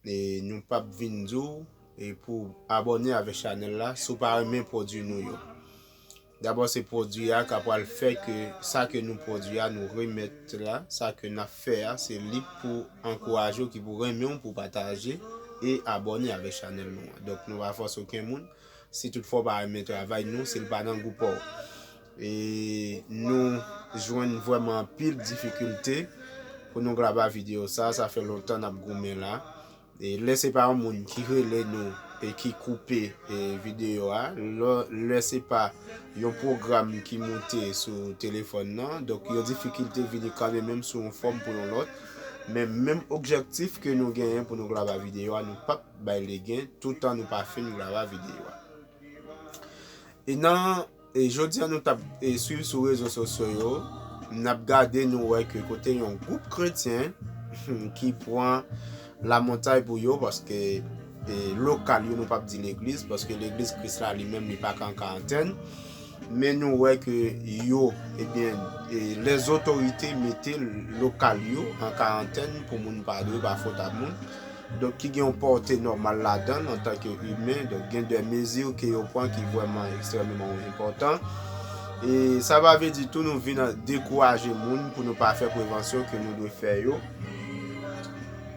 Nou pap vin di w pou w abòne avèk chanèl la si w pa renmen pwodwi nou yo. Dabò se pwodwi a k ap pral fè ke sa ke nou pwodwi a nou remèt la, sa ke n ap fè a se li k pou ankouraje w, ki pou renmen w, pou w pataje e abòne avèk chanèl nou an. Donk nou pa fòse oken moun, si tout fwa w pa renmen travay nou, si l pa nan gou pa w. E nou jwenn vrèman anpil difikilte pou nou graba video sa, sa fè lontan nap goumen la. E lè se pa yon moun ki rele nou e ki koupe video a, lè se pa yon pwogram ki moute sou telefòn nan, donk yon difikilte vini kanmen menm sou yon fòm pou yon lòt. Men menm objektif ke nou genyen pou nou graba video a, nou pap bay legen toutan nou pa fin graba video a. E nan. Jodi a nou t ap swiv sou rezo sosyo yo, n ap gade nou wè ke kote yon gwoup kretyen ki pran lamontay pou yo paske lokal yo nou p ap di legliz paske legliz Kris la li menm li pa ka an karantèn men nou wè ke yo ebyen lèzotorite mete lokal yo an karantèn pou moun pa dwe pa fot a moun. Donk ki gen yon pòte nòmal ladan l antanke imen, donk gen dè mezi ke yo pran ki vrèman ekstrèmeman enpòtan. E sa pa vle di tou nou vin dekouraje moun pou nou pa fè prevansyon ke nou dwe fè yo.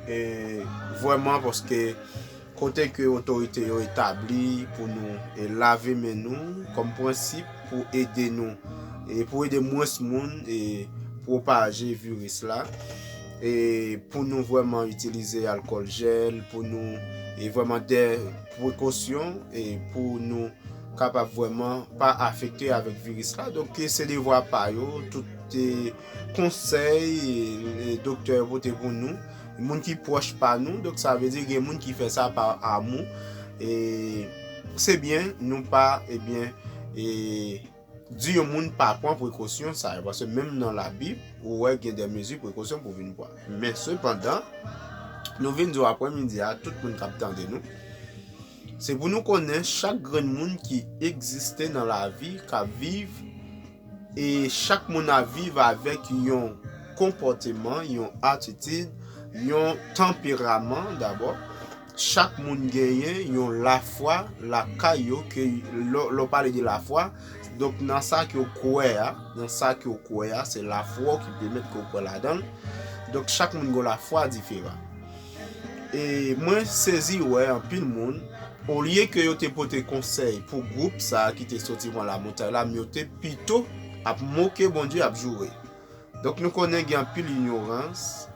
E vrèman paske kote ke otorite yo etabli pou nou e lave men nou kòm prensip pou ede nou e pou ede mwens moun e pwopaje viris la. e pou nou vwèman itilize alkòl jèl pou nou e vwèman dè prekosyon e pou nou kapab vwèman pa afekte avèk viris la donk ke se devwa pa yo tout te konsèy e doktè yo pote pou nou moun ki pwòch pa nou donk sa vle di gen moun ki fè sa pa amou e se byen nou pa e byen e di yon moun pa pran prekosyon sa yo, paske menm nan labib ou wè gen de mezi prekosyon pou vin pran. Men sepandan, nou vin di w aprè midi a, tout moun kap tande nou, se pou nou konnen chak grenn moun ki egziste nan lavi, kap viv, e chak moun ap viv avèk yon konpòteman, yon atitid, yon tanperaman dabò, Chak moun genyen yon lafwa lakay yo ke lè w pale de lafwa, donk nan sa ke w kwè a, nan sa ke w kwè a, se lafwa w ki pèmèt ke w kwè ladan l. Donk chak moun gen yon lafwa diferan. E mwen sezi wè anpil moun, olye ke yo te pote konsèy pou gwoup sa ki te soti van lamontay la, men yo te pito ap moke Bondye, ap joure. Donk nou konnen gen anpil inyorans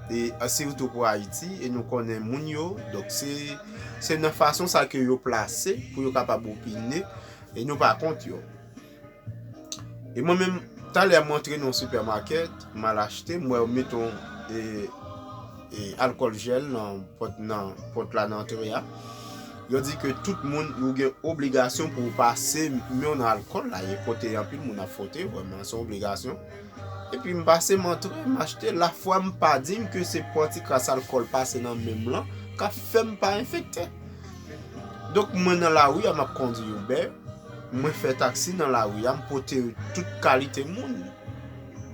e sitou pou Ayiti e nou konnen moun yo, donk se nan fason sa ke yo plase pou yo kapab opine e nou pa kont yo. E mwen menm, talè mwen antre nan yon sipèmakèt, m al achte, m wè yo met yon e alkòl jel nan pòt nan pòt la nan antre a yo di ke tout moun ou gen obligasyon pou pase menw nan alkòl la e kote anpil moun ap frote vreman son obligasyon epi m pase m antre m achte la fwa m pa dim ke se pò ti kras alkòl pase nan menm lan kap fèm pa enfekte donk mwen nan la ri a map kondi uber mwen fè taksi nan la ri a m pote tout kalite moun.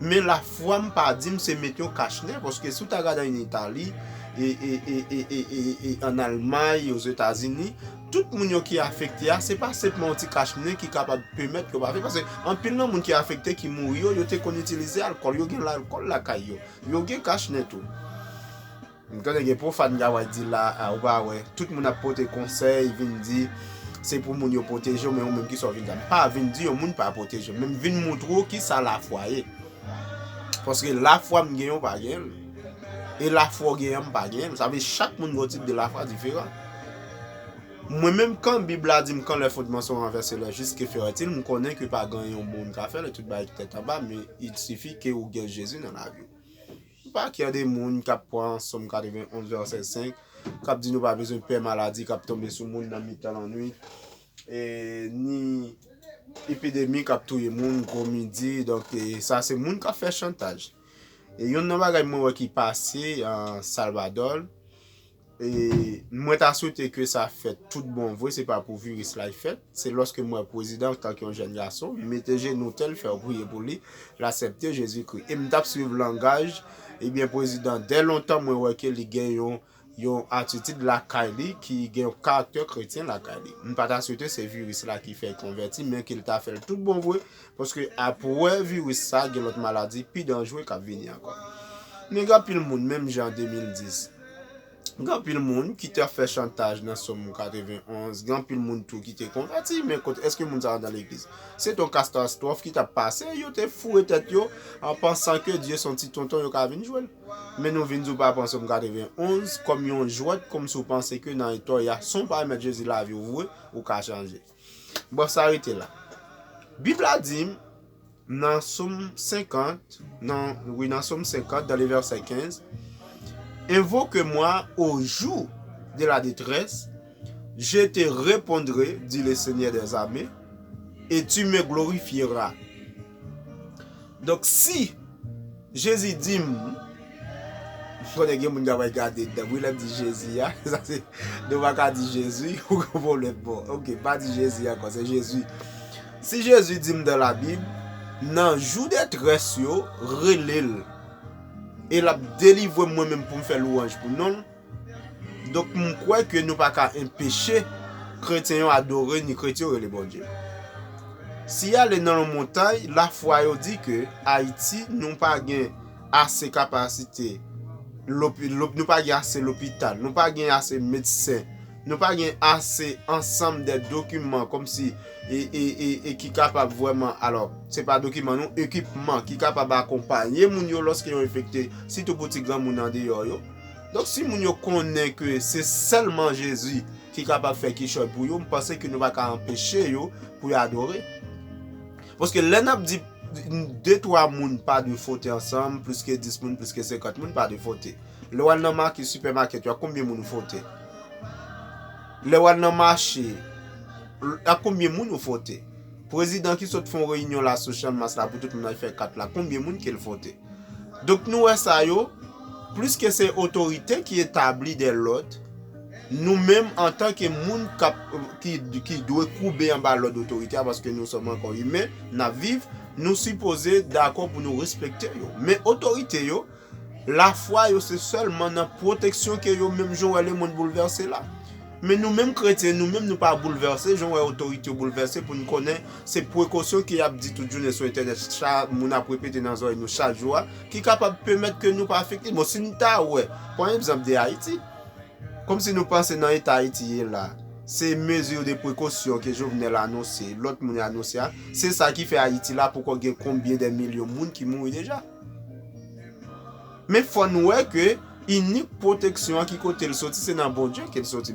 Men la fwa m pa di m se met yon kach nè paske si w ta gade an Itali e an Almay, Ozetazini, tout moun yo ki afekte a se pa senpman yon ti kach nè ki kapab pèmèt yo pa vin paske anpil nan moun ki afekte ki mouri yo, yo te konn itilize alkòl, yo gen alkòl lakay yo, yo gen kach nè tou. M tande gen profane kap wè di la a ou pa wè tout moun ap pote konsèy vin di se pou moun yo protejew men ou menm kisa ou vin di la m pa vin di yon moun pa protejew men m vin moutre w kisa lafwa ye paske lafwa m genyen ou pa genyen l e lafwa w genyen an m pa genyen l sa vle chak moun gen yon tip de lafwa diferan mwen menm kan bib la di m kan lè fondman son ranvèse lè jis ke fè retil m konnen ke pa gen yon moun ka fè l e tout bagay ki tèt anba men il sifi ke ou gen jezi nan lavi w. Pa kè de moun k ap pran Sòm 91 vèsè 5, k ap di nou pa bezwen pè maladi k ap tonbe sou moun nan mitan lannwit, ni epidemi k ap touye moun gwo midi. Donk, sa se moun k ap fè chantaj. Youn nan bagay mwen wè ki pase Salvadò, Mwen ta swete ke sa fèt tout bon vre, se pa pou viris la y fèt. Se lòske m wè pwezidan an tanke yon jèn gason, m mete jenou tè l fè yon priye pou li, l asèpte Jezikri. E m t ap swiv langaj, ebyen pwezidan dè lontan mwen wè ke li gen yon yon atitid lakay li ki gen yon karaktè kretyen lakay li. M pa ta swete se viris la ki fè l konvèti men ke l ta fè l tout bon vre, Paske apwè viris sa gen lòt maladi pi danjre kap vini ankò. Men gen anpil moun menm jan an 2010. Gen anpil moun ki te fè chantaj nan som 91. Gen anpil moun tou ki te konvèti men kot eske moun sa andan legliz. Se ton kastastwòf ki tap pase yo te foure tèt yo an pansan ke Dye son ti tonton yo ka vin jwel. Men nou vin di ou pa pran som 91 kòm yon jwèt kòmsi ou panse ke nan etò ya son pa remèt Jezi laviw vre ou ka chanje. Bon sa rete la. Bib la di m nan som 50, nan, wi nan som 50 dan le vèsè 15, Invoque moi au jour de la détresse, je te repondrai, dit le Seigneur des armées, et tu me glorifieras. Donk si Jezi di m, m konnen gen moun k ap gade nan wi lè m di Jezi a, sa se nou pa ka di Jezi ou gen yon pwoblèm bon ok m pa di Jezi ankò se Jezi. Si Jezi di m dan la bib nan jou detrès yo rele l e l ap delivre m mwen menm pou m fè lwanj pou non l. Donk m kwè ke nou pa ka enpeche kretyen yo adore ni kretyen yo rele Bondye. Si y ale nan yon montay, lafwa yo di ke Ayiti nou pa gen ase kapasite, nou pa gen ase lopital, nou pa gen ase medsen, nou pa gen ase ansanm de dokiman kòm si e ki kapab vwèman, alò se pa dokiman non, ekipman ki kapab akonpanye moun yo lòske yo enfekte, sitou pou ti granmoun andeyò yo. Donk si moun yo konnen ke se sèlman Jezi ki kapab fè kichòy pou yo, m panse ke nou pa ka anpeche yo pou yo adore. Paske lè n ap di de twa moun pa dwe fwote ansanm, plis ke dis moun, plis ke senkant moun pa dwe fwote. Lè w al nan makèt, sipèmakèt yo, ak konbyen moun ou fwote? Lè w al nan mache, ak konbyen moun ou fwote? Prezidan ki sot fè yon reyinyon la sou Chanmas la pou tout moun al fè kat la, konbyen moun ke l fwote? Donk nou wè sa yo, pliske se otorite ki etabli de lòd, nou menm antan ke moun kap, ki, ki dwe koube anba lòd otorite a, paske nou sòm ankò imen, nap viv, nou sipoze dakò pou nou respekte yo. Men otorite yo, lafwa yo se sèlman nan pwoteksyon ke yo menm jan w wè lemonn boulvèse la. Men nou menm kretyen, nou menm nou pa boulvèse jan w wè otorite yo boulvèse pou n konnen se prekosyon ke y ap di tout jounen sou entènèt, sa moun ap repete nan zòrèy nou chak jou a, ki kapab pèmèt ke nou pa afekte. Bon, si n ta wè, pran egzanp de Ayiti, kòm si nou panse nan eta Ayiti ye la, se mezi de prekosyon ke Jovenel anonse, lòt moun yo anonse a, se sa ki fè Ayiti la poko gen konbyen de milyon moun ki mouri deja. Men fò n wè ke inik pwoteksyon an ki kote l soti, se nan Bondye ke l soti.